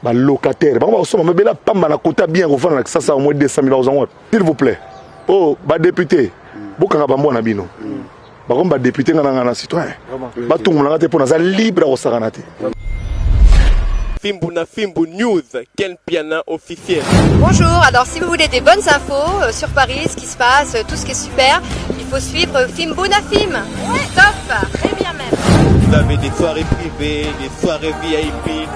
ba locataire bango bakosomba mabele apamba na kota bien kofanda na kisasa au moins 200 000 bakozanga wapi s'il vous plaît o oh, badepute bokanga bambwa na bino bakomi badepute nga na nga na citoyen batungomola nga te mpo naza libre ya kosakana te Fimbu na Fimbu News, Ken Piana officiel. Bonjour, alors si vous voulez des bonnes infos euh, sur Paris, ce qui se passe, euh, tout ce qui est super, il faut suivre Fimbu na Fim. Ouais, top, très bien même. Vous avez des soirées privées, des soirées VIP,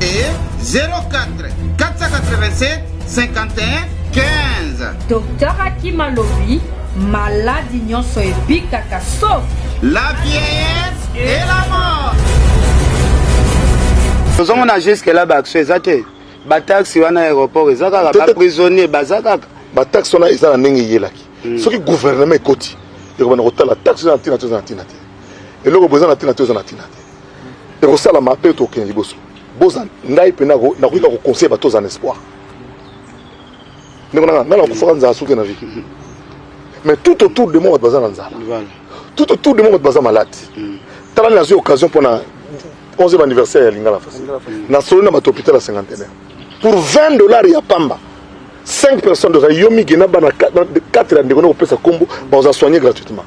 et 04 487 51 15. Docteur Hakim alobi maladi nyonso ebikaka sauf la vieillesse et la mort. tozomona jusque là baaction eza te bataxi wana aéroport eza kaka baprisonnier baza kaka bataxi wana eza na ndenge eyelaki hmm. soki gouvernement ekoti ekobanda kotala taxi eza na ntina te eza na ntina te eloko boza na ntina te eza na ntina te ekosalama mpe tokende liboso boza ngai mpe nakoki na koconseille bato oza na espoir ndeko nanga ngai nakufaka nzala soki na vie mais tout autour de moi bato baza na nzala tout autour de moi bato baza malade mm. tala nazwi occasion mpo na 11e anniversaire ya lingala fasi nasoli na bato hôpital ya cinquantenaire pour 20 dollars ya pamba 5 personnes de yo migi na bana 4 ya ndeko na kopesa nkombo baoza soigne gratuitement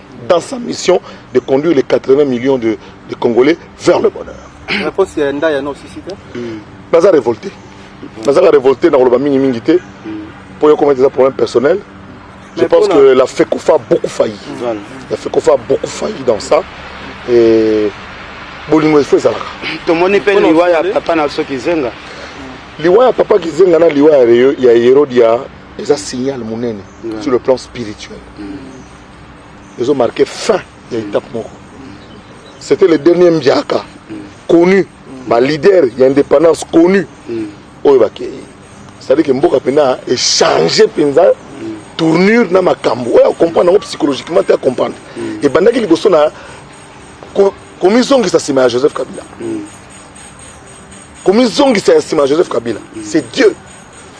dans sa mission de conduire les 80 millions de, de Congolais vers le bonheur. Réponse ya nda ya no sisika. Hmm. Naza révolté. Naza révolté na koloba mingi mingi te. Hmm. Pour yo comment des problèmes personnels. Je pense que la FECOFA a beaucoup failli. La FECOFA a beaucoup failli dans ça. Et bolingo efo ezalaka tomoni mpe liwa ya papa na biso kizenga liwa ya papa kizenga na liwa ya herodiya eza signal monene sur le plan spirituel mm. ezo marquer fin ya étape moko c'était le dernier mdiaka connu ba leader ya indépendance connu oyo bakei c'est-à-dire que mboka mpena echange mpenza tournure na makambo oyo acomprendre yango psychologiquement te acomprendre ebandaki liboso na komizongisa nsima ya joseph kabila komizongisa ya nsima ya joseph kabila c'est dieu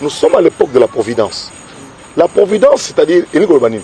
nous sommes à l'époque de la providence la providence c'est-à-dire elingi koloba nini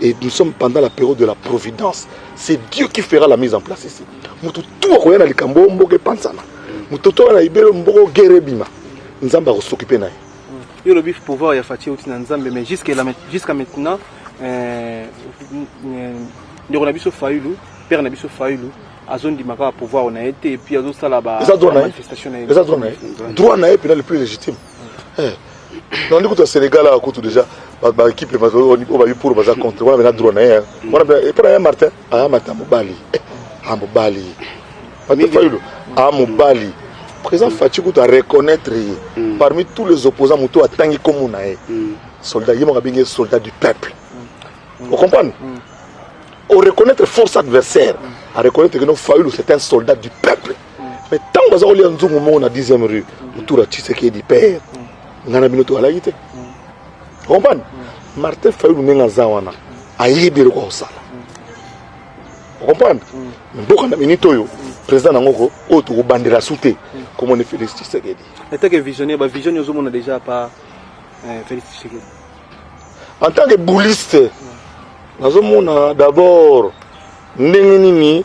et nous sommes pendant la période de la providence c'est dieu qui fera la mise en place ici moto tu akoya na likambo oyo mboka epansana moto tu akoya na libelo mboka ogere ebima nzambe akosokipe na ye hmm. yo olobi pouvoir ya faci euti na nzambe mais jusqu'à maintenant euh, euh, ndeko na biso fayulu père na biso fayulu azondima kaka pouvoir na ye te epuis azosala bamanifestation na ye eza droit na ye mpena le plus légitime eh. nandi kutu ya sénégal awa kutu déjà baéquipe oyo babi pour baza contre wana bena droit na ye wana epo na ye martin aya martin mobali a mobali fayulu a mobali président faci kutu areconnaitre ye mm. parmi tous les opposants moto atangi komo na ye mm. soldat ye moko abengi ye soldat du peuple mm. ocomprendre oreconnaitre force adversaire areconnaitre que no fayulu c'est un soldat du peuple mais ntango baza kolia nzungu moko na 10e rue autour ya tshisekedi père ngai na bino toalaki te okomprane martin fayulu ndenge aza wana ayebi eloko akosala okomprane mboka na minute oyo président na ngoko oyo tokobandela su te komoni félix tshisekedi etake visionnaire bavisionne ozomona déjà pa eh, félix tshisekedi en tant que bouliste nazomona d'abord ndenge nini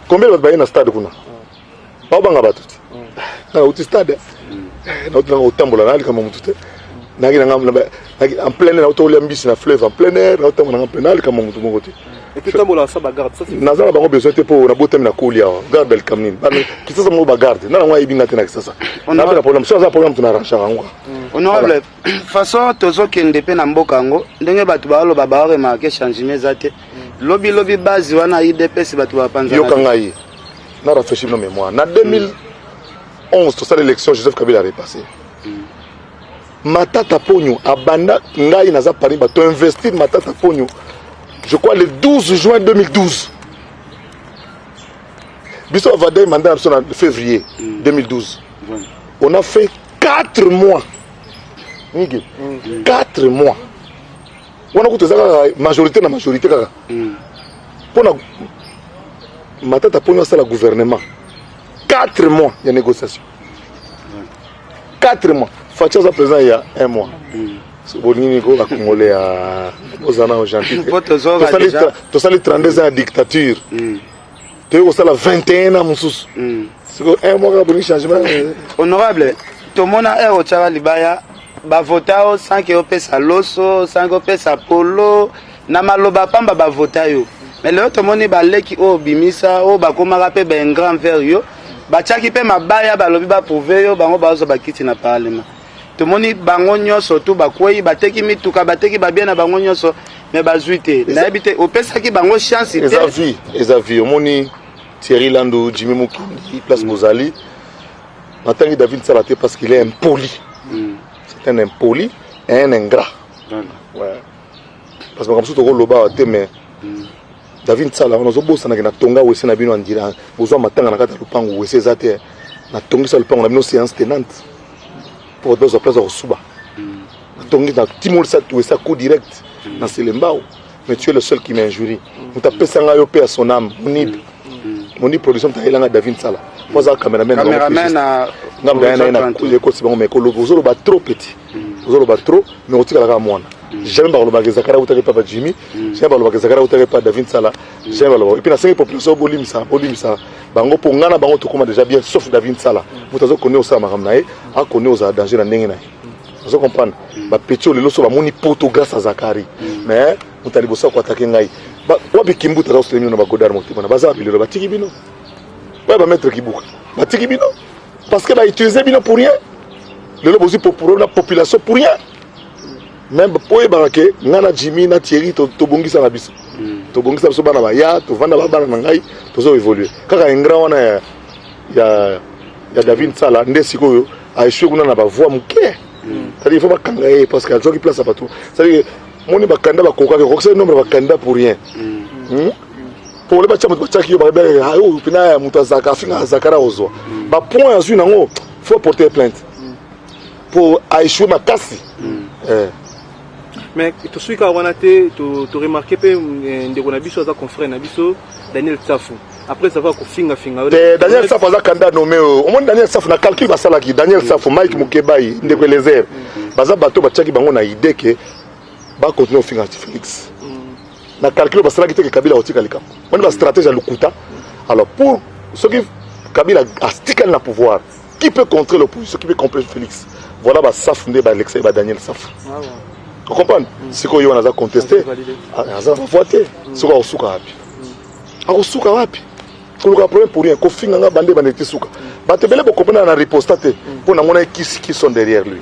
Combien de baye na stade kuna? Ba banga batu. Na uti stade. Na uti na otambola na likambo mutu te. Na kina ngam na en plein air na uti olia mbisi na fleuve en plein air na utambola ngam plein na likambo mutu moko te. Et puis tambola sa ba garde ça c'est. Na zala bango besoin te po na botami na koli awa. Garde le kamnin. Ba kitasa mo ba garde. Na ngwa ibinga te na kitasa. Na ba problème. Ça ça problème tu na rancha ngwa. Honorable façon tozo kende pe na mboka ngo ndenge batu ba lo ba ba remarquer changement zate. Lobi lobi base wana UDPS bato ba panza. Yoka ngai. Na rafraîchir nos mémoires. Na 2011 mm. tosala élection Joseph Kabila a repassé. Mm. Matata Ponyo abanda ngai naza Paris bato investir Matata Ponyo. Je crois le 12 juin 2012. Biso avadai mandat na biso na février 2012. Mm. On a fait 4 mois. 4 mois. wana kutu eza kaka majorité na majorité kaka hmm. mpo na matata mpo asala gouvernement 4 mois ya négociation 4 mois faci aza président ya 1 mois hmm. bolingi nini ko bakongole ya ozana gentil tosali 32 ans ya dictature hmm. toye kosala 21 ans mosusu mm. siko un mois kaka boni changement eh. honorable tomona heure otyaka libaya bavota yo sans ke opesa loso sans ke opesa polo na maloba pamba bavota yo mais lelo tomoni baleki oyo obimisa oyo bakomaka mpe baingrand vers yo batyaki mpe mabaya balobi baprouve yo bango bazwa bakiti na parlement tomoni bango nyonso tu bakwei bateki mituka bateki babie na bango nyonso me bazwi te nayebi te opesaki bango chance te eza vie eza vie omoni thierry lando jimi mokindi place mm. bozali natangi david sala te parce qu'il est impoli mm. c'est un impoli et un ingrat ouais. parce que makambo mosusu tokoloba te mais mm. David Nsala wana ozobosana ke na tonga wese na bino andira bozwa matanga na kati ya lopango wese eza te na tongisa lopango na bino séance tenante mpo bato bazwa place ya kosuba na tongisa na timolisa wese ya coup direct na selembao mais tu es le seul qui m'injurie moto apesa ngai yo mpe ya son âme monib monib production moto ayelanga David Nsala mpo aza cameraman ngambo ya ye na ekoti bango mais ozoloba trop petit ozoloba trop mais otikala kaka mwana jamais bakolobaka ezakara utaka epa ba jimmy jamais bakolobaka ezakara utaka epa david sala jamais balobaka epuis nasengi population bolimisa bolimisa bango mpo ngai na bango tokóma déjà bien sauf david sala moto azokoni osala makambo na ye akoni ozala danger na ndenge na ye ozo comprendre bapeti oyo lelo so bamoni poto grâce a zakari mais moto ya liboso akoatake ngai wapi kimbuta azakosola bino na bagodar motema na baza wapi lelo batiki bino oyo bamaître kibuka batiki bino Parce que ba utiliser bino pour rien. Lelo bozi pour pour la population pour rien. Même pour les baraquets, nana Jimmy, na Thierry, to to bongi sa biso. Hmm. To bongi sa biso bana ba ya, to vanda ba bana na ngai, to zo évoluer. Kaka un grand wana ya ya ya David Sala nde sikoyo a échoué kuna na ba voix muke. Hmm. C'est-à-dire il faut ba kanga ye parce que a joki place à partout. C'est-à-dire moni ba kanda ba kokaka, kokisa nombre ba kanda pour rien. Mm. Hmm? pole batya moto batyaki yo balobelaka ah, oyo mpena ya moto azaka afingaka zakara ozwa bapoint azwi nango fo aporter plainte mpo aechue makasi mm. eh. mais tosui kaka wana te toremarke mpe eh, ndeko na biso aza confrère na biso daniel tsafu après savoir kofingafinga eh, daniel safu aza kanda nome oyo omoni daniel safu na calcul basalaki daniel safu mike mokebai ndeko elezer mm. baza bato batyaki bango na idee ke bakontinue kofinga felix na calcul basalaki te ke kabila akotika likambo wani ba stratégie ya lokuta alors pour soki kabila astikali na pouvoir qui peut contrer l'opposition qui peut contrer félix voilà basafu nde baalexei badaniel safu ah okomprendre mm. sikoyo yo wana aza conteste ah, aza na bavoi te mm. sikoyo akosuka wapi mm. akosuka wapi koluka problème pour rien kofinga nga bande bande te suka bato ebele bokompena na riposta te mpo nango na ye kisi kison derrière lui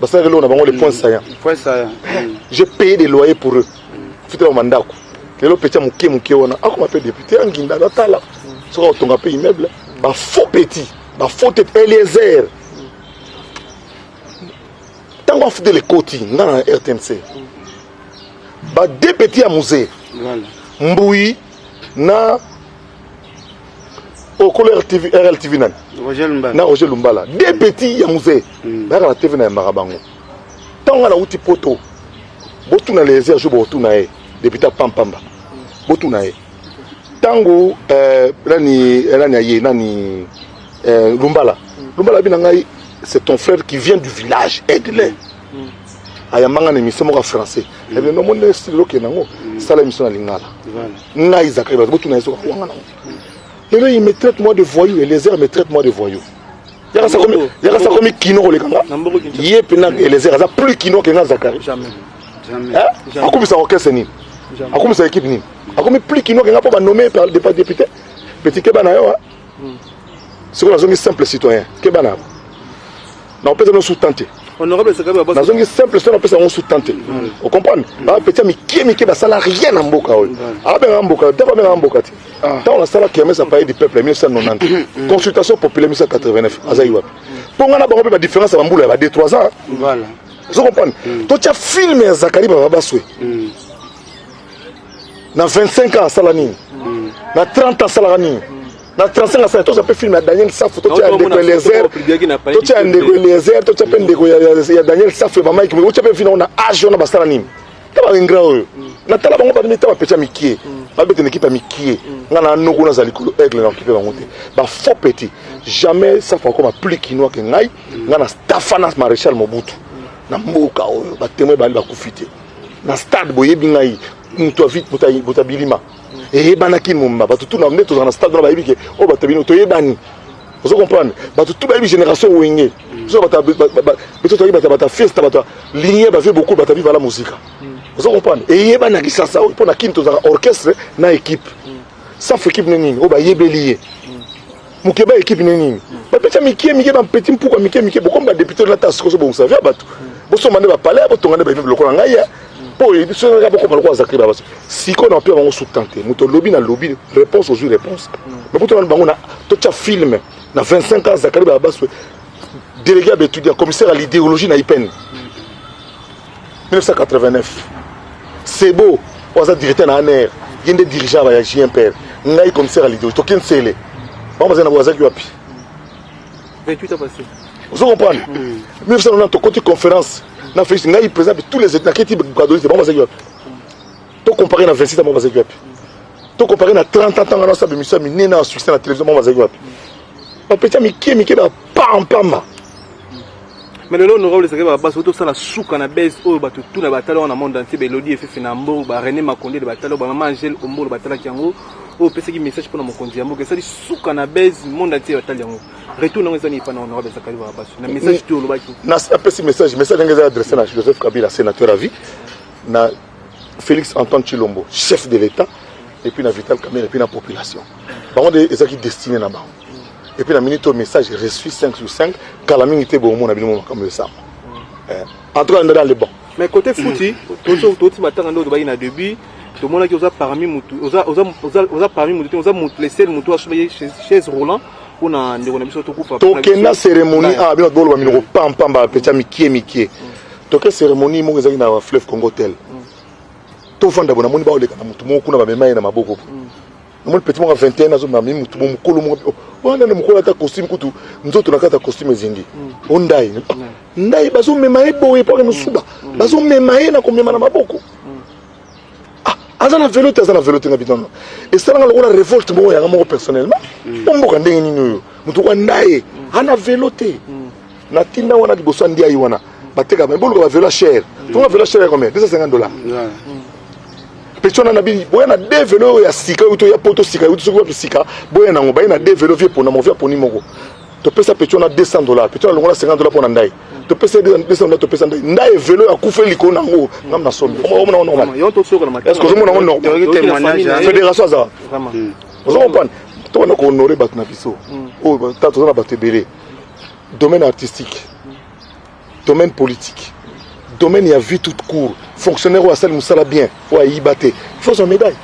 basalaka eloko na bango le point mm. saillant point saillant mm. j'ai payé des loyers pour eux fitela ma ndako lelo petit moke moke wana akoma ah, pe député anginda ah, natala soki akotonga mpe immeuble ba faux petit ba faux tete eliezer ntango afutela ekoti nga na rtnc ba deux petit ya musée mbuyi na okolo rtv rltv nani na roger lumbala de petit ya muse hmm. bayaka na tv na yambaka bango ntango nga nauti poto botuna lezer jour botuna ye depute apampamba botuna ye ntango eh, nani eh, nani aye nani eh, lumbala hmm. lumbala abi na ngai c'est ton frère qui vient du village aide-le ayamba nga na émission moko ya français mm. ebi nomoni na style okende yango mm. sala émission na lingala ngai zakari bato botuna ye soka wanga nango lelo il me traite moi de voyou elezer me traite moi de voyou yaka sa komi kino koleka nga ye mpena elezer aza plus kino ke nga zakari akumisa orchestre nini akumisa équipe nini akomi plus kino ke nga mpo banome par député petit keba na yo sikoyo nazongi simple citoyen keba na nakopesa bino sous tante nazongi simple citoyen napesa yango sous tante ocomprendre bapeti ya mikie mikie basala rien na mboka oyo abengaka mboka dako abengaka mboka te ntango nasala kermes apaye du peuple ya 1990 consultation populaire 1989 azali wapi mpo ngai na bango mpe badifference ya bambula ya ba 2 3 ans ozo comprendre totya filme ya zakari baba baswe na 25 ans asala nini na 30 asalaka nini na 35 asala toza mpe film ya daniel safu totya ya ndeko eliezer totya ya ndeko eliezer totya mpe ndeko ya daniel safu ya bamaiki boye otya mpe vina ona age wana basala nini ta baingra oyo natala bango banimi ta bapetya mikie babetana ekipe ya mikie nga na noko naza likolo aigle na okipe bango te bafaux petit jamais safu akoma plus kinois ke ngai nga na stafana maréchal mobutu na mboka oyo batemoin bali bakufi te na stade boyebi ngai moto ya vite moto ya bilima eyebanaki momba bato tu na nde tozala na stade wana bayebi ke oyo oh, bato ya bino toyebani ozo comprendre bato tu bayebi génération wenge biso bato biso toyebi bato bato fiesta bato ligne bavie beaucoup bato viva la musica ozo comprendre eyebanaki sasa oyo mpo na kini tozalaka orchestre na équipe safu équipe ne nini oyo oh, bayebeli ye mokeba ekipe ne nini bapeti ya mikie mikie bampeti mpuku ya mikie mikie bokomi badepute lata soko ozobongisa vya bato bosomba nde bapale ya botonga nde baimeble lokola ngai ya mpo oyebi soki kaka bokoma lokola zakri ba baso sikoyo na mapia bango sutan te moto olobi na lobi réponse ozwi réponse mais kutu wana bango na totya filme na 25 ans zakari ba baso délégué ya baétudiant commissaire ya l'idéologie na ipene 1989 sebo oyo aza directeur na aner ye nde dirigeant ya jmpr ngai commissaire ya lidoji toke nsele bango bazali na boazaki wapi ozo comprendre 1990 tokoti conférence na félix ngai président de tous les états naketi gadolite bango bazalaki wapi to compare na 26 bango bazalaki wapi to compare na 30 ans ntango nasala bemiso ya minene ya succès na télévision bango bazalaki wapi bapeti ya mike mike bapampama mais lelo honorable ezalaki babasi oyo tosala suka na base oyo bato tu na batala wana monde entier baelodi efefe na mbo ba rené makondele batala oyo bamama angele ombolo batalaki yango oyo opesaki message mpona mokonzi ya mboka esali suka na base monde entier batali yango retour nango eza nini mpana honorable ezakali babasi na message tu olobaki napesi message message yango eza adresse na joseph kabila sénateur à vie na félix antoine chilombo chef de l'état et puis na vital kamere et puis na population bango nde ezalaki destiné na bango et puis na minute au message reçu 5 sur 5 kala mingi te bo mona bino makambo yo sama eh, en tout cas ndada le bon mais côté fouti tozo toti batanga ndo bayi na début tomonaki oza parmi mutu oza oza oza oza parmi mutu oza mutu le seul mutu asobaye chez Roland pona ndeko na biso tokufa tokenda cérémonie ah bino boloba minoko pam pam ba pecha mikie mikie mm. toke cérémonie moko ezalaki na fleuve congo tel mm. tofanda bo namoni baoleka na motu moko kuna bamema ye na maboko mm. namoni petit moko ya 21 ans azomema mi motu mokolo moko wana na mokolo ata costume kutu nzoto na kati ya costume ezingi mm. o ndai mm. ndai bazomema ye boye mpo akende suba mm. bazomema ye na komema na maboko ah, aza na velo te aza na velo te na binono esalanga lokola revolte moko yanga moko personnellement omboka ndenge nini oyo motu kwa ndaye ana velo te na tinda wana liboso ya ndiayi wana bateka me boluka bavelo ya chere tonga velo ya chere ya combien 250 dollars peti wana na bini boya na de velo oyo ya sika oyo toya poto sika euti soki wapi sika boya nango baye na de velo vie pona mo vie aponi moko topesa peti wana 200 dollars peti wana longola 50 dollars mpona ndai topesa 200 dollars topesa ndai ndai velo ya kufa elikolo na yango ngam na somi omona yango normal est-ce que ozomona yango normal fédération aza ozo comprendre tokona kohonore bato na biso oyo toza na bato ebele domaine artistique domaine politique domaine ya vie toute court fonctionnaire oyo asali mosala bien oyo ayiba te il faut azwa médaille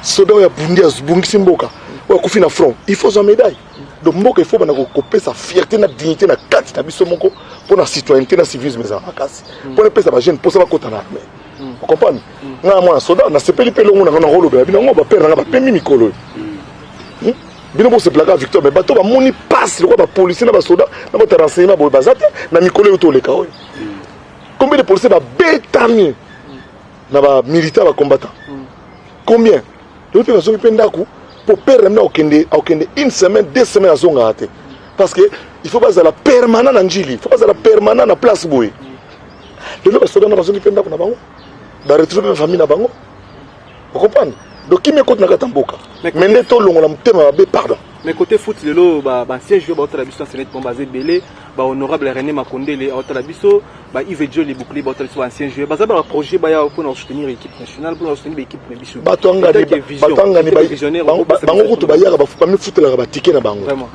soda oyo abundi abungisi mboka oyo akufi na front il faut azwa médaille donc mboka il faut banda kopesa fierté na dignité na kati na biso moko mpo na citoyenneté na civisme ezala makasi mm. mpo na epesa bajeune mposa bakota na armée mm. okomprendre mm. ngai mwana soda nasepeli mpe elongo na ngai nakolobela bino yango bapere na ngai bapemi mikolo oyo bino bosepelaka victoire mais bato bamoni pasi lokola bapolicier na basoda na bato ya renseignement boye baza te na mikolo eyo toleka oyo combien de policier babetami na bamilitant bacombattant combien lelo mpe bazongi mpe ndako mpo pere na bino akokende akokende une semaine deux semaine azongaka te parce que il faut bazala permanent na njili il faut bazala permanent na place boye lelo basoda na bazongi mpe ndako na bango baretrouve mpe famille na bango Vous comprenez Donc qui m'écoute na kata mboka. Mais nde to longola mutema mabe pardon. Mais côté foot lelo ba ba ancien joueur ba otala biso c'est net bon basé belé ba honorable René Makondele otala biso ba Yves Dieu les boucliers ba otala biso ba ancien joueur ba za ba projet ba ya pour soutenir l'équipe nationale pour soutenir l'équipe na biso. Ba to ngani ba to ngani ba visionnaire bango kutu ba yaka ba fupa mi futela ba ticket na bango. Vraiment.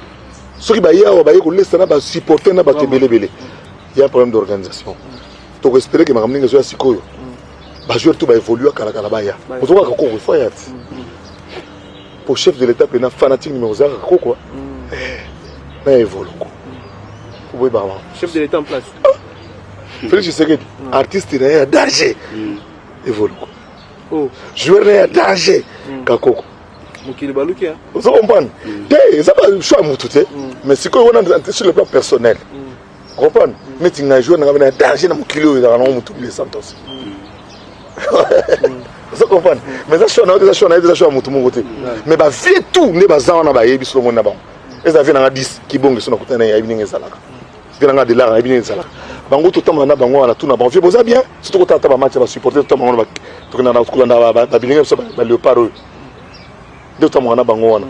Soki ba yawa ba yeko lesa na ba supporter na ba tebele belé. Il y a un problème d'organisation. Mm. Tu espérer que ma camarade soit sikoyo. ba joueurs tout ba évoluer kala kala ba ya ozo ka ko ko fa ya ti pour chef de l'état pena fanatique numéro 0 ko quoi na évolue ko pour boy ba chef de l'état en place Félix Tshisekedi artiste na ya danger évolue ko oh joueur na ya danger kakoko mokili baluki ozo comprendre te eza ba choix mutu te mais sikoyo wana sur le plan personnel mm. comprendre mais ti ngai joueur nanga bena danger na mokili oyo ezalaka nango motu bile santos ozo comprendre mais eza choix na yo eza choix na ye eza choix ya motu moko te mais bavie tout nde baza wana bayebi solo moni na bango eza vie nanga 10 kibonge so nakutana naye ayebi ndenge ezalaka vie nanga delar ayebi ndenge ezalaka bango totambola na bango wana tuna bango vie boza bien so tokota ata bamatch ya basupporter totambola bango tokolanda babilinga biso baleopard oyo nde totambola na bango wana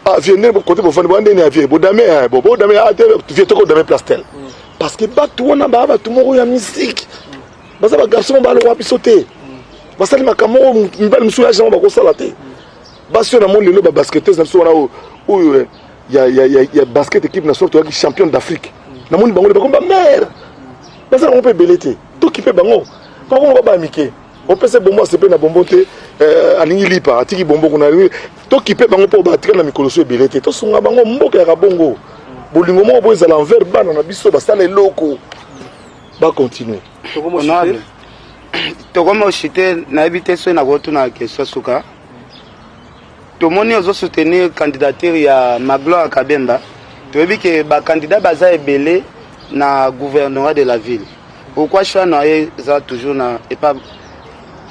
Ah vieux nene kote bo fani bo nene ya vieux bo dame eh bo bo dame ah te vieux toko dame place tel. Mm. Parce que batu wana ba batu moko ya musique. Mm. Baza ba garçon ba lowa biso te. Mm. Basali makambo mibali musuya jango ba ko sala te. Basi na moni lelo ba basketteuse na biso wana oyo oyo eh, ya ya ya, ya basket équipe nationale to ya champion d'Afrique. Na moni bango ba komba mère. Baza ko pe belé te. To kipe bango. Ba ko ba mike. Opese bombo asepe na bombo te. Euh, alingi lipa atiki bombo kuna tokipe bango mpo batikala na mikolo so ebele te tosunga bango mboka ya kabongo bolingo moko mpo ezala envers bana na biso basala eloko bacontinue tokomi osite nayebi te soki nakotuna question suka tomoni ozo soutenir candidature ya magloire kabemba toyebi ke bakandidat baza ebele na gouvernorat de la ville Pourquoi choix na ye eza toujours na epa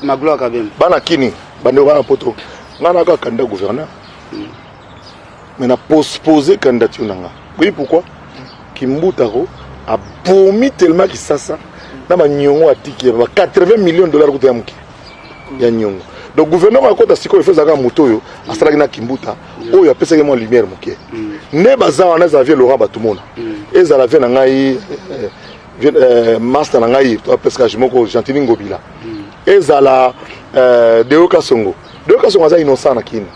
Magloire Kabembe? Bana kini bandeko bana poto nga na kaka candidat gouverneur mm. mais na postpose candidature na nga oui pourquoi kimbutako abomi tellement kisasa na banyongo atiki ya ba 80 millions de dollars kuta ya moke ya nyongo donc gouverneur akota sikoyo efo ezalaka moto oyo asalaki na kimbuta oyo apesaki mwa lumière moke mm. nde baza wana ezala vie laurent batumona mm. ezala vie na ngai eh, euh, master na ngai to pescage moko gentini ngobila hmm. ezala euh, deo kasongo deo kasongo aza innocent na kini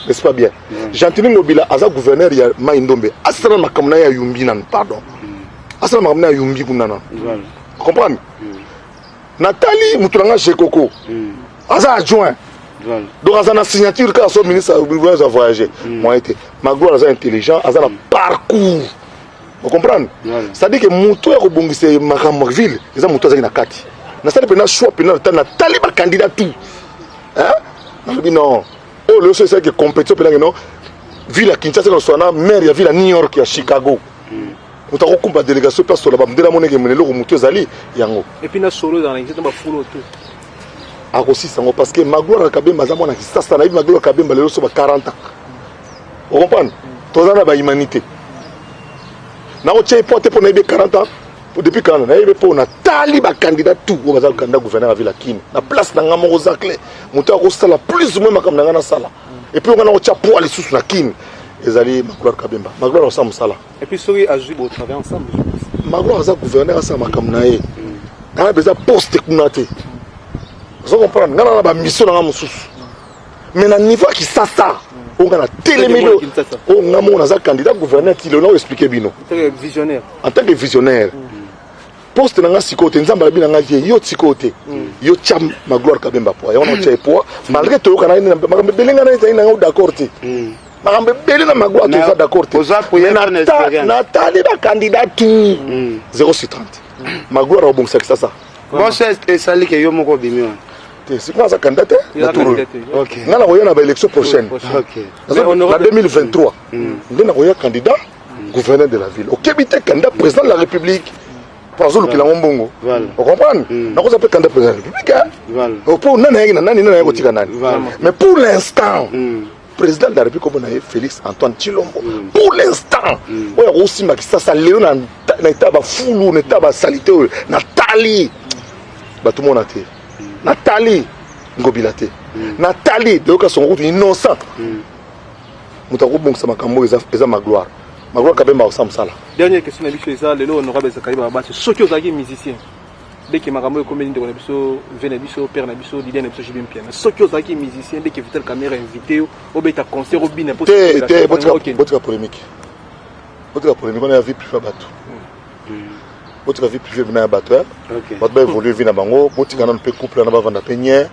n'est-ce pas bien hmm. gentini ngobila aza gouverneur ya mai ndombe asala makambo na ye ya yumbi nanu pardon hmm. asala makambo na ya yumbi kuna nanu comprendre natali motu na ngai jekoko aza adjoint donc aza na signature kaka so ministre aza voyage moyen te magloire aza intelligent aza na parcours o comprendre c'est à dire que moto ya kobongisa makambo ville eza moto azalaki na kati nasali mpena choix mpena ta natali bacandidat tout nalobi non oyo loyo so esalaki compétition mpenake non ville ya kinshasa ekoswa na maire ya ville ya new york ya chicago hmm. moto akokumba délégation mpe asola bamdela moneke mene eloko motu ezali yango akosisa yango parce que magloire kabemba aza mwana kisasa nayebi magloire kabemba lelo so ba 40 ans Vous comprenez Toza na ba humanité. Na ko tshei pote pona ebe 40 ans. Depuis 40 ans, na ebe pona tali ba candidat tout ko baza candidat gouverneur à ville Kin. Na place na ngamo Rosacle, mutu ko sala plus ou moins makam na ngana sala. Et puis on a tshia poa les sous na Kin. Ezali Magloire Kabemba. Magloire au sam sala. Et puis soki azui bo travail ensemble. Magloire aza gouverneur à sa makam na ye. Ana beza poste kuna te. Vous comprenez? Ngana na ba mission na ngamo sous. mais na niveau ya kisasa oyo nga natelemeli oyo nga moko naza candidat gouverneur ti lelo expliquer bino en tant que visionnaire poste na nga sikoyo te nzambe alabi na nga vie yo sikoyo te mm. yo tya magloire kabemba poa yango natya epoa mm. malgré toyokana makambo ebele nga naezali na yango d'accord te mm. makambo ebele na magloire toza d'accord te natali bacandidat tout 0 sur 30 magloire akobongisa kisasa bosest esalike yo moko obimi wana te sikoyo aza candidat te na tour oyo nga nakoya na baélection prochaine na 2023 nde nakoya candidat gouverneur de la ville okebi te candidat président de la république mpo azolukela yango mbongo ocomprendre mm. nakoza mpe candidat président de la république mpo oh, nani ayaki na nani nani ayaki kotika nani mais pour l'instant mm. président de la république komona ye félix antoine chilombo mm. pour l'instant oyo akosimba kisasa lelo na etaba fulu na etaba salite oyo natali bato mona te natali ngobila te mm. natali deyoka songo kutu innocent mm. moto akobongisa makambo oyo eza magloire magloire kabemba osa mosala dernière question na biso eza lelo honorable zakari babasi soki ozalaki musicien ndeke makambo oyo ekomeli ndeko na biso ve na biso père na biso lider na biso jibi mpiana soki ozalaki musicien ndeke vital camera invité yo obeta concert obina botika polémique botika polémique wana ya vie priva bato botika vie privé bina ya bato eh? okay. bato baévolue vie na bango botika nano mpe couple wana bavanda mpe nye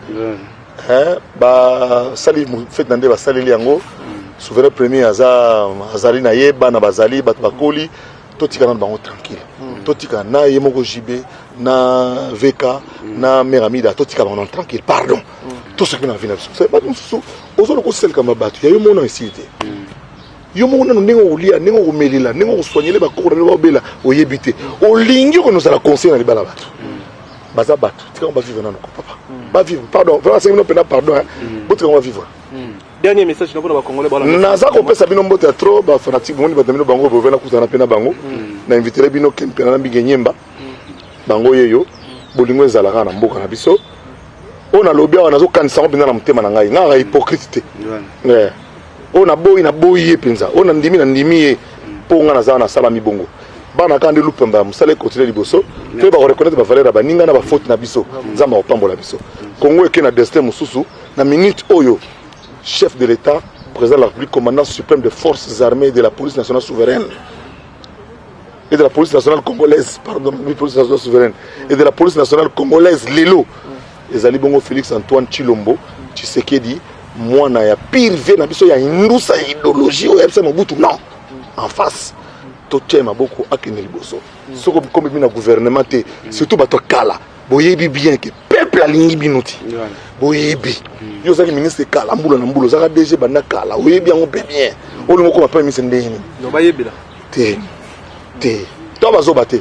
eh? basali fete na nde basaleli yango mm. souverain premier aza azali na ye bana bazali bato bakoli totika nano bango tranquille mm. totika na ye moko jb na vk mm. na mère amida totika bango nano tranquille pardon mm. tosoki na vie na biso bato mosusu ozoloka osalika ma bato ya yo mona esili te mm. Yo moko nano ndenge okolia, ndenge okomelela, ndenge okosoignele ba cours na obela oyebi te. Olingi ko nozala conseil na libala bato. Baza bato, tika ba vivre nano ko papa. Ba vivre, pardon, vraiment c'est une pena pardon hein. Mm. Botika ba vivre. Mm. Dernier message na pona ba congolais bala. Naza ko pesa bino mbote ya trop ba fanatique boni ba tamino bango bovena kutana pena bango. Mm. Na inviter bino ken pena na mbinge nyemba. Bango yeyo bolingo ezalaka na mboka na biso. Ona lobi awa nazo kanisa ngo pena na motema na ngai. Nga hypocrite te. Yeah. oyo naboyi naboyi ye mpenza oyo nandimi nandimi ye mpo ngai naza nasalami bongo bana kaka nde lupemba ya mosala ekontinue liboso mpe bakoreconnaitre bavaleur ya baninga na bafaute na biso nzambe akopambola biso congo eke na destin mosusu na minute oyo chef de l'état président de la république commandant suprême des forces armées et de la police nationale souveraine et de la police nationale congolaise pardon police nationale souveraine et de la police nationale congolaise lelo Ezali bongo Felix Antoine Tshilombo Tshisekedi mwana ya pire vie na biso ya hindusa ya idéologie oyo yabisa Mobutu non en face totya maboko akende liboso soko bikomi bino na gouvernement te surtout bato ya kala boyebi bien ke peuple alingi bino ti boyebi hmm. yo ozalaki ministre kala mbula na mbula ozalaka dg banda kala oyebi yango mpe bien olingo okoma premier ministre ndenge nini te te to bazoba te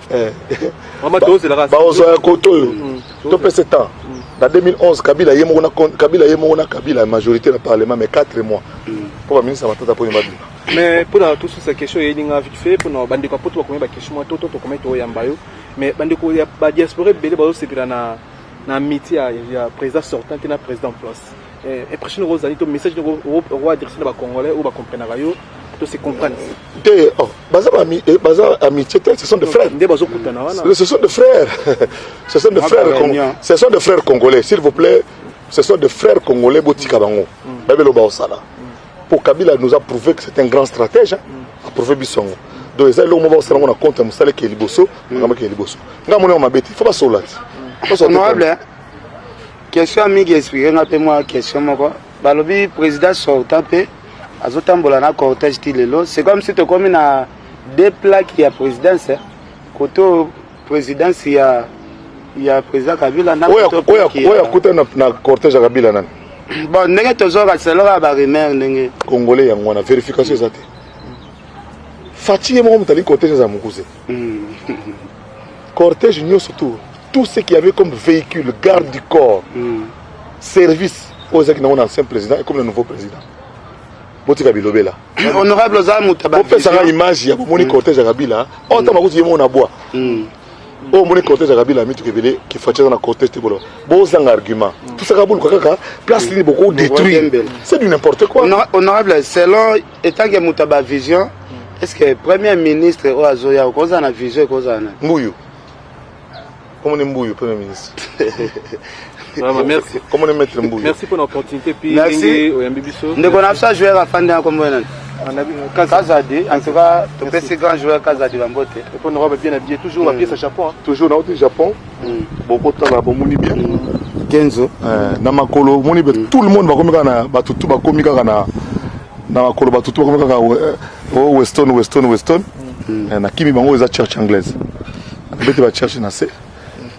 Eh. baozwa ya koto oyo mm, topese temps mm. na 2011 kabila ye moko na kabila ye moko na kabila majorité na parlement mais 4 mois mm. mpo baministre ya matata mponi babima mais mpona tosusa question eyelinga vite fait mpona bandeko ya poto bakomi baquestion mwa toto tokomi toyamba yo mais bandeko ya badiaspora ebele bazosepela na na miti ya président sortant te na président place Eh, impression noko ozali to message noko oko adresse na ba congolais oyo ba comprenaka yo to se comprendre te oh baza ba eh, baza amitié te ce sont des frères nde bazo kutana wana ce sont des frères ce sont des ah, frères ce sont des frères congolais s'il vous plaît ce sont des frères congolais botika bango mm. babelo ba osala mm. pour Kabila nous a prouvé que c'est un grand stratège hein, mm. a prouvé bisongo donc eza eloko moko basala ngo na compte ya mosala ekeye liboso makambo ekeye liboso ngai amoni yango mabe te fo basola te honorable Question ya Migi explique nga pe mwa question moko. Balobi president sortant pe azotambola na cortège ti lelo. C'est comme si tokomi na deux plaques ya présidence kote oyo présidence ya ya président Kabila na oyo akuta na, na cortège ya Kabila nani bon ndenge tozoka selaka ba rumeur ndenge congolais yango wana verification eza te Fatshi ye moko moto alingi cortège aza mokuse Mmh. Cortège nyoso tout, tout ce qui avait comme véhicule, garde du corps, mmh. service, oyo ezalaki nango na ancien président et comme le nouveau président. botika bilobela honorable oza motabopesaka image ya bomoni mm. cortège ya kabila oyo oh, ntango bakuti ye moko na bwa mm. oyo oh, omoni cortège ya kabila mituka ebele kifaci aza na cortège te boloba bozanga argument tosaka boluka kaka place nini boko détruire c'est du n'importe quoi honorable selon etanke moto ya bavision estce premier ministre oyo azoya okozala na vision ekozala na mbuyu komoni mbuyu premier ministre Vraiment, merci. Comment le mettre mbuyu merci mpona opportunité puis ndenge oyambi biso ndeko na biso ajouer afandi na kombo nani Kazadi, en tout cas, topesi grand joueur Kazadi Bambote. Répondre bien habillé, toujours la pièce à Japon. Toujours dans le Japon. boko tala bomoni bien kenzo eh, na makolo omoni be tout le monde bakomi kaka na bato tu bakomi kaka na na makolo bato tu bakomi kaka o eh, oh, weston weston weston mm. eh, na kimi bango eza church anglaise bete ba church na se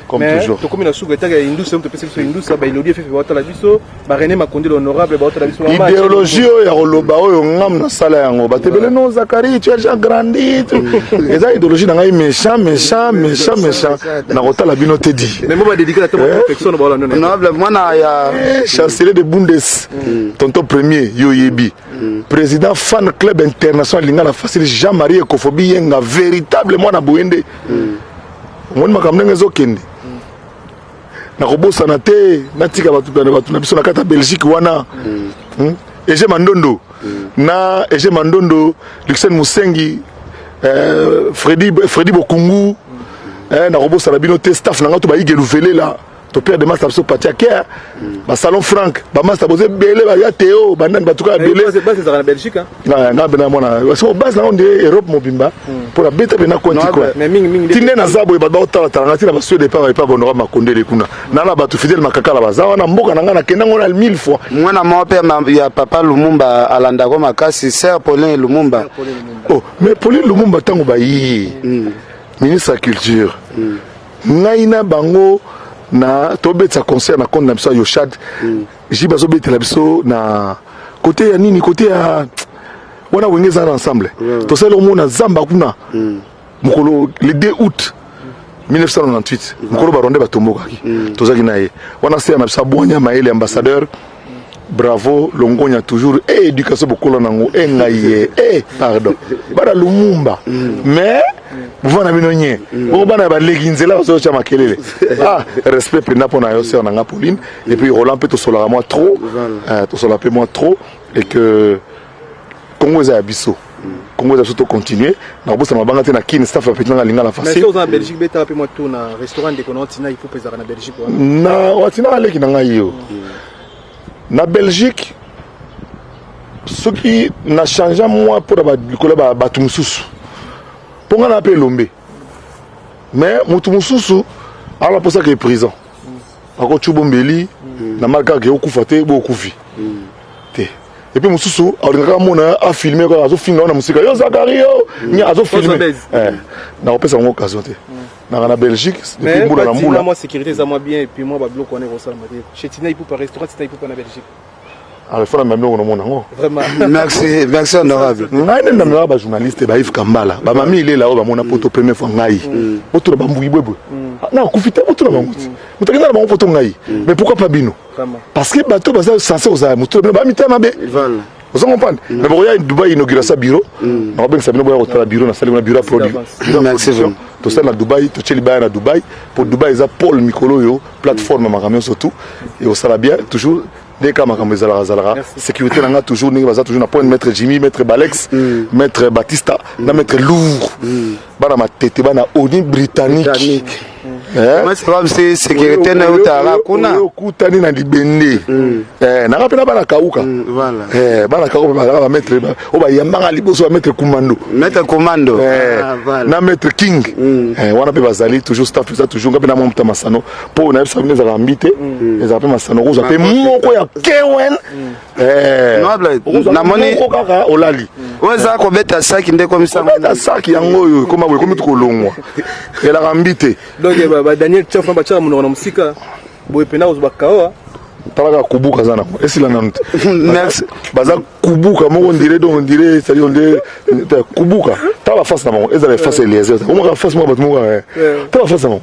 comme toujours tokomi na suka etaka ya indusa mpe topesi biso indusa baelodi efefe baotala biso ba René Makundi l'honorable baotala biso ba match idéologie oyo ya koloba oyo ngam nasala yango bato ebele no Zachary tu as déjà grandi tu- eza idéologie na ngai méchant méchant méchant méchant nakotala bino te di mais moi ba dédicace à ta perfection ba Hollande Honorable, mwana ya Eh, chancelier de bundes tonton premier yo oyebi président fan club international lingala facile jean marie ekofobi yenga véritable mwana boyende omoni makambo ndenge ezokende nakobosana te natika bato na bato na biso na kati ya belgique wana mm. hmm? ege mandondo mm. na ege mandondo luxen mosengi eh, fredi, fredi bokungu mm. eh, nakobosana bino te staff na ngai to bayige luvelela topere de masta biso pati ya kea basalon frank bamasta boza ebele baya teo bandani batuka ya bele na nga bena mwana so base nango nde europe mobimba hmm. mpo na beta bena konti kua ti nde naza boye bato baotalatala nga ti na basuede epa epa gondoka makondele kuna hmm. na na bato fidele makakala baza wana mboka na nga na kenda ngo na mille fois mwana moko mpe ya papa lumumba alandako makasi ser paulin lumumba oh mais paulin lumumba ntango bayii hmm. ministre ya culture ngai na bango na tobetisa concert na compte na biso ya yoshad Ji bazo betela biso na kote ya nini kote ya wana wenge eza na ensemble mm. tosali omo na zamba kuna mm. mokolo le 2 août 1998 mm. mokolo barwande batombokaki mm. tozalaki na ye wana seya na biso abwanya mayele ambassadeur bravo longonya toujours e eh, education bokola nango e eh, ngai ye eh, e pardon bana lumumba mm. mais mouvement na bino nye bongo bana ya baleki nzela bazotya makelele ah respect mpenza mpo na yo sœur na nga pauline et puis roland mpe tosolaka mwa trop euh, tosolaka mpe mwa trop et que congo eza ya biso congo eza biso to continue nakobosana mabanga te na kin staff ya petit nanga alinga na facile oza na belgique betala mpe mwa tour na restaurant ndeko na otinaki mpo mpezaka na belgique wana na watinaka leki na ngai yo Na Belgique soki na changea mwa mpo na likolo ya bato mosusu mpo ngai naa mpe elombe mais moto mosusu aza na mposa ke prison akotyuba mm. ombeli mm. na mali kaka ke okufa te bo okufi mm. te epe mosusu alingaka amona afilme azofinga wana mosika yo zakari yo azofilme eh, nakopesa yango occasion te nanga na belgique depuis mbula na mbula mwa sécurité eza mwa bien epuis mwa babiloko wana ekosalama te chez tina ipupa restaurant tina ipupa na belgique alefana na biloko namona yango merci merci honorable hmm? ngai nde namemaka bajournaliste ba yves kambala bamami ilela oyo bamona poto hmm. première fois ngai hmm. botuna bambuki bwebwe ah, nakufi te botuna bango ti moto akenda na bango poto ngai mais pourquoi pas bino parce que bato baza sense kozala moto na bino bamitema mabe ozo comprendre mm. mais bokoya dubai inaugura sa bureau mm. nakobengisa bino boya kotala bureau nasali kuna bureau production tosali na dubai totie libaya na dubai mpo dubai eza pole mikolo oyo plateforme makambo nyonso tout ekosala bien toujours nde kaka makambo ezalaka azalaka sécurité na nga toujours ndenge baza toujours na point maître jimmy maître balex mm. maître batista na maître lour bana matete bana oni britannique bamse eh? sécurité na eutaka kuna okutani na libende mm. eh, nanga mpe na bana kauka mm, eh, bana kauka mpe bazalaka bamaitre oyo bayambaka liboso bamaitre commando maitre commando ah, na maitre king mm. wana mpe bazali toujours staff eza toujours nga mpe na mwa moto ya masano mpo nayebisa bino ezalaka mbi te ezalaka mpe masano kozwa mpe moko ya kewen Eh, namoni kaka olali oyo eza kobeta saki nde komisabeta saki yango oyo ekoma boye komi tukolongwa elaka mbi te donc eh, badaniel chef na batiaka monoko na mosika boye mpena kozwa bakaoa talaka kubuka aza nango esila nanu te baza kubuka moko ndire donc ndire cetadi onde kubuka tala bafase na bango ezala efase eliezer omaka fase moko bato moko eh. tala bafase na bango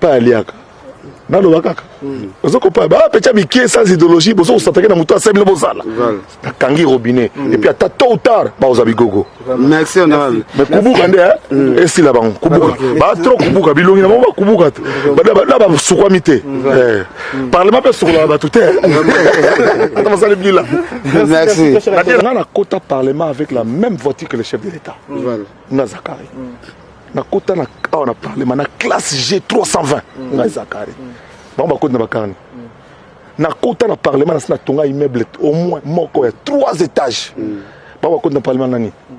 pa aliaka naloba kaka hmm. ozo kopa ba pecha mikie sans idéologie bozo kosatake na moto asali bino bozala nakangi robinet hmm. epuis ata tôt ou tard bakoza bigogo merci honorable mais kubuka nde eh? hmm. esila bango kubuka ba trop kubuka bilongi na bango bakubuka te na basukwami te eh. parlement mpe esukolaka bato te eh. ata basali bila nga nakota parlement avec la même voiture que le chef de l'état nga zakari nakota na awa na parlement na classe g 320 mm. ngai zakari mm. bango bakoti na bakarni mm. nakota na parlement nasi natonga immeuble au moins moko ya trois étages mm. bango bakoti na parlement nani mm.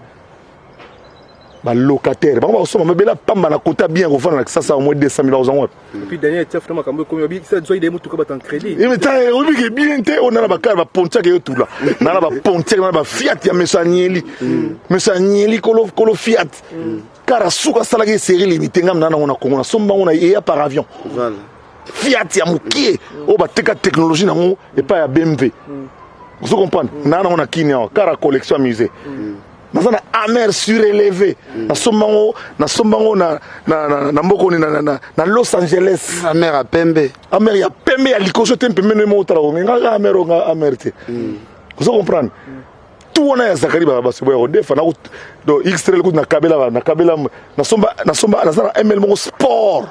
balocataire bango bakosomba mabela pamba na kota bien kofanda na kisasa au moins 200 000 bakozango wapi Et puis Daniel tia funa makambo ekomi obi sa zoi de mutuka batan credit. Eh mais ta obi ke bien te on a ba kala ba pontia ke yotula. Na la ba pontia na ba fiat ya mesanieli. Mm. Mesanieli kolo kolo fiat. Mm. Kara suka sala ke série limitée ngam na na ngona Congo na somba ngona ya par avion. Voilà. Fiat ya mukie mm. o oh, ba teka technologie na ngo et pas ya BMW. Vous comprenez? Na na ngona Kenya kara collection musée. naza na amer sureleve nasomba yango nasomba yango na, na, na, na mbokoni na, na, na, na los angeles amer ya pembe amer ya pembe ya likoso te mpembe nde moko otala konge nga kaka amer oyo nga amer te mm. ozo comprendre mm. tout wana ya zakari basobo ya kodefa do xtrel kutu nakabela nakabela nasomba nasomba naza na ml moko sport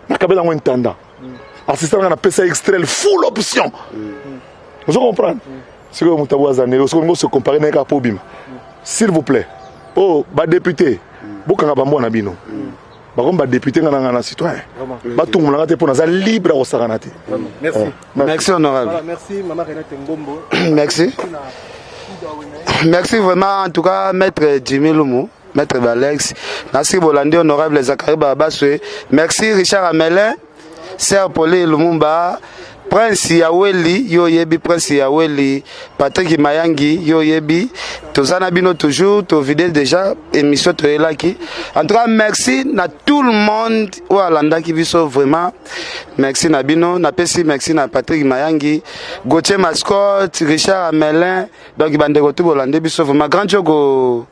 nakabela yango intendant assistant nga napesa extrel full option ozo comprendre sikoyo moto abo aza ndenge soki olingi ose compare naye kaka mpo obima s'il vous plaît oyo oh, badepute bokanga bambwa na bino bakomi badepute nga na nga na citoyen batungolanga te mpo naza libre ya kosakana te merci honorable merci merci vraiment en tout cas maître jimi lumu Maître Balex, nasi bolandi honorable Zachary Babaswe. Merci Richard Amelin, Sir Poli Lumumba, Prince ya Weli, yo yebi Prince ya Weli, Patrick Mayangi, yo yebi. Toza na bino toujours, to vide déjà émission to elaki. En tout cas, merci na tout le monde ou alandaki biso vraiment. Merci na bino, na pesi merci na Patrick Mayangi, Gauthier Mascotte, Richard Amelin. Donc bandeko tout bolandi biso vraiment grand jogo.